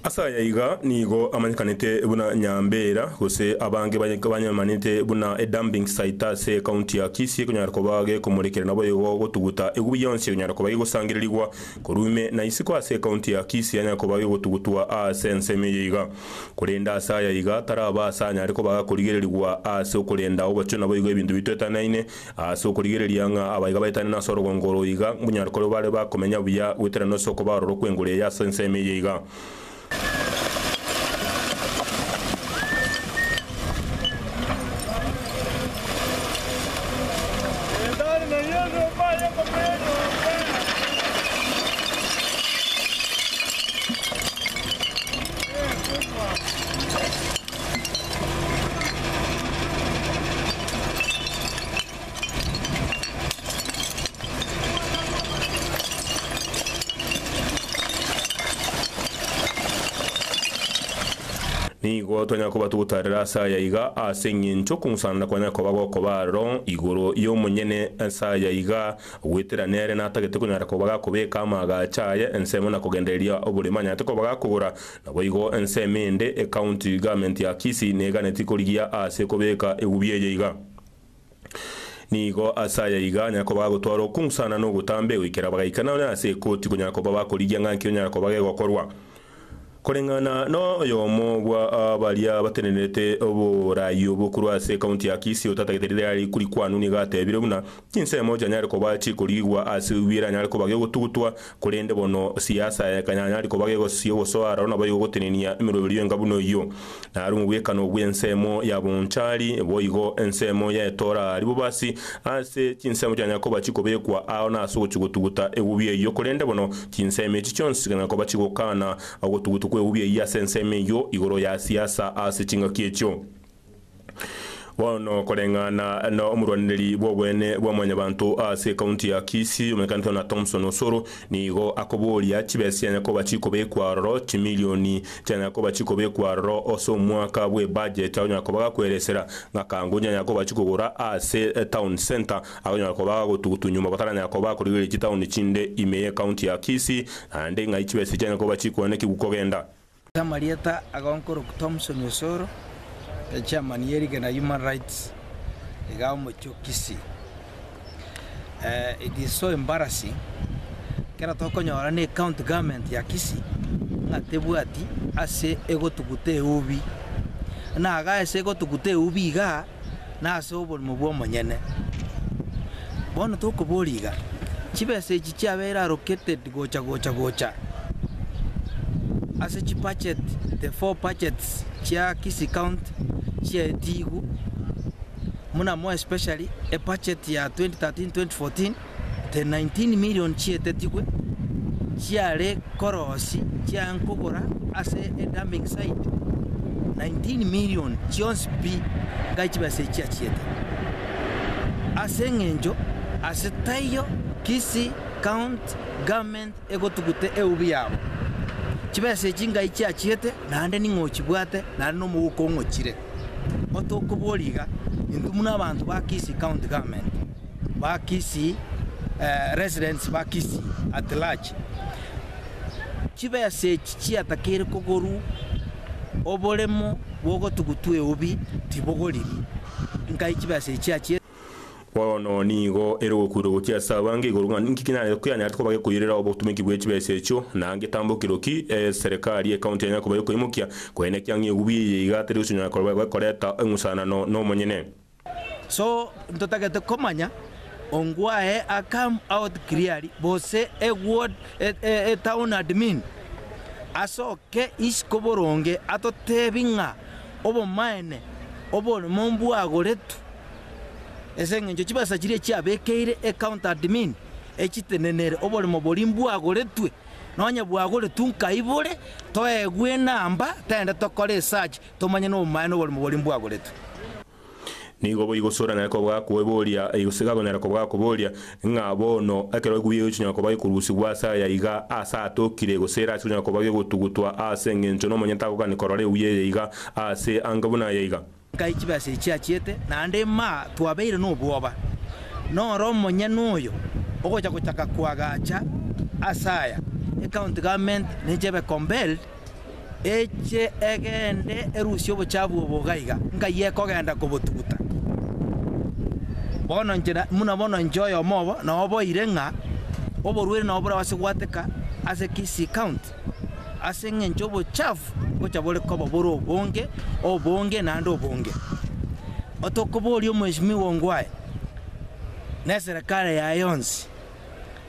Ase aya iga nigo amanyekanete buna Nyambeera, gose abange banyemanete buna Edumbing Site ase Ekaunti ya Kisii, ekonyara koba gekomorekera naboigo gotuguta egubi yonsi ekonyara koba gegosangererigwa korwa ime na isiko ase Ekaunti ya Kisii yanyara koba gegotugutwa aase ensemo eye iga. Korende ase aya iga taraba aase anyare koba agakorigererigwa aase okorenda obochio naboigo ebinto bitwetanaine Ase okorigereria ng'a abaiga baetane nase orogongo oro iga, bonyari koreo bare bakomenya buya goetera nonsi okoba ororo kw'enguru eye ase ensemo eye iga. Nigo twanyara koba togotaarera ase aya iga ase engencho okong'usanana kwanyare koba gokoba aroro igoro y'omonyene ase aya iga, goetera nere natagete konyara koba gakobeka amaagacho aye ensemo na kogendereria oborimo anyarete koba gakogora, Naboigo ensemo ende e County Government ya Kisii neganeti korigia aase kobeka egubia eye iga. Nigo ase aya iga nyakoba agotwara okungu sana na ogotamba egoikera bagaikana onye ase ekoti konya koba bakorigia ng'a nki onya koba gegokorwa. Koreng'ana na oyomo bwa baria batenenerete oboraai obo korwa ase County ya Kisii otatagete rire aria rikuri kwanwa nigo atebire buna, Chinsemo chianyare koba chikoriigwa ase wi eranyare koba gegotugutwa, korende bono siasa ekanyanyari koba gegosisia ogosoa aroro nabo egogotenenia emeroberio enga buna eyio. Naro omobwekano bw'ensemo ya bonchari, boigo ensemo y'etoora aria bobasi ase chinsemo chianyare koba chikobekwa ao nase ogochia gotuguta egubi eyio, korende bono chinsemo echi chionsi chikanyara koba chigokaana ogotugutwa kw'egubi eyio ase ensemo eyio igoro ya siasa ase chingaki echio. Bono koreng'ana nomorwanereria bw'obweene bwa mwanyabanto ase ekaunti ya Kisii omenyekanete na Thomson Osoro nigo akoboria chibesa chianya koba chikobekwa aroro chimilioni chianya koba chikobekwa aroro ase omwaka bw'ebudget agonyara koba gakweresera ng'aka ngoji anya koba chikogora ase etown centre agonyara koba gagotugutu nyuma bataranyara koba bakorigereria chitaoni chinde ime y'ekaunti ya Kisii naende ng'ai chibesa chianya koba chikoenekigwa kogenda Amarieta agonkorokwa Thomson Osoro, echairman ye rigena Human Rights, iga omochio Kisii. It is so embarrassing, ekero tokonyora ne county government ya Kisii ng'a tebwati ase egotuguta eubi. Buna iga ase egotuguta eubi igaa, na ase oborimo bw'omonyene. Bono tokoboria iga, chibesa echi chiabeire allocated gocha gocha gocha ase chibudget, the four budgets chia Kisii County chiaetigwe, buna more especially ebudget ya 2013-2014, The 19 million chietetigwe chiare korosi chia nkogora ase e dumping site 19 million chionsi pi ngai chibe ase echia chiete ase eng'encho ase taiyo Kisii county government egotugute eubi yabo chibesa echi ngai chia chiete naende ning'o ochibwate naende na omogoka ong'ochire otokobori iga intwe buna abanto ba Kisii county government. ba Kisii, residents ba Kisii at large, chibesa echi chiatakeire kogorwa oboremo bw'ogotugu tw'eubi tibogoriri, nkai chibesa echi chiachire? Bono nigo ere ogokuuria gochia ase abange igoro ng'a ninki kianyarete koba gekoirera obotumeki bwe chibesa echio, na ngetambokero ki eserikari y'ekaunti yanyare koba gekoimokia, korende ekiang'a eubi eye iga teri gochia konyara koreta eng'usanano nomonyene. So ntotagete komanya ongwae a come out clearly gose a ward a town admin asoke isiko boronge atotebi ng'a obomaene oborimo mbwagoretwe ase engencho chibesa chiria chiabekeire a county admin echitenenere oborimo bori mbwagoretwe nonye bwagoretwe nkaibore toegwe enamba tende tokore esearch. tomanye nomobaene oborimo boria mbwagoretwe. Nigo boigo sore naye kobua kweboria, gose gakonyara kobua koboria, ng'a bono ekero eguya eyo echinyara kobua gekorusigwa ase aya iga, aase atokire, gose ere ase konyara kobua gegotugutwa aase engencho nomonyene tagokani korora eguya eye iga, aase ange buna aya iga. Nkai chibesa echi achiete, naende maa twabeire nobwoba. Noro omonyene oyo ogocha gochaka koagacha ase aya, ecounty government neche ebe compelled, eche egende erusie obochafu obo iga iga, ngaiyo ekogenda kobotuguta. Bono inche na- buna bono inche oyomo obo noboire ng'a oborwaire nabo borabase goateka ase Kisii county, ase eng'encho obochafu ngocha bore koba bore obonge, obonge naende obonge. Otokoboria omheshimiwa ongo aye, neserekare yaye yonsi,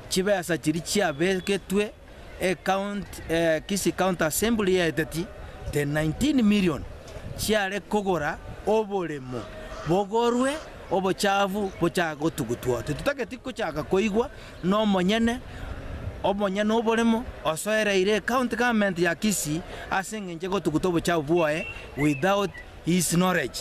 chibesa chiria chiabegetwe. Kisii County Assembly yaeteti the 19 million chiare kogora oboremo bogorwe obochafu bochake gotugutwa. Titotageti gochaka koigwa nomonyene omonyene oboremo osoereire ecounty government ya Kisii ase engencho egotuguta obochafu bwoye without his knowledge.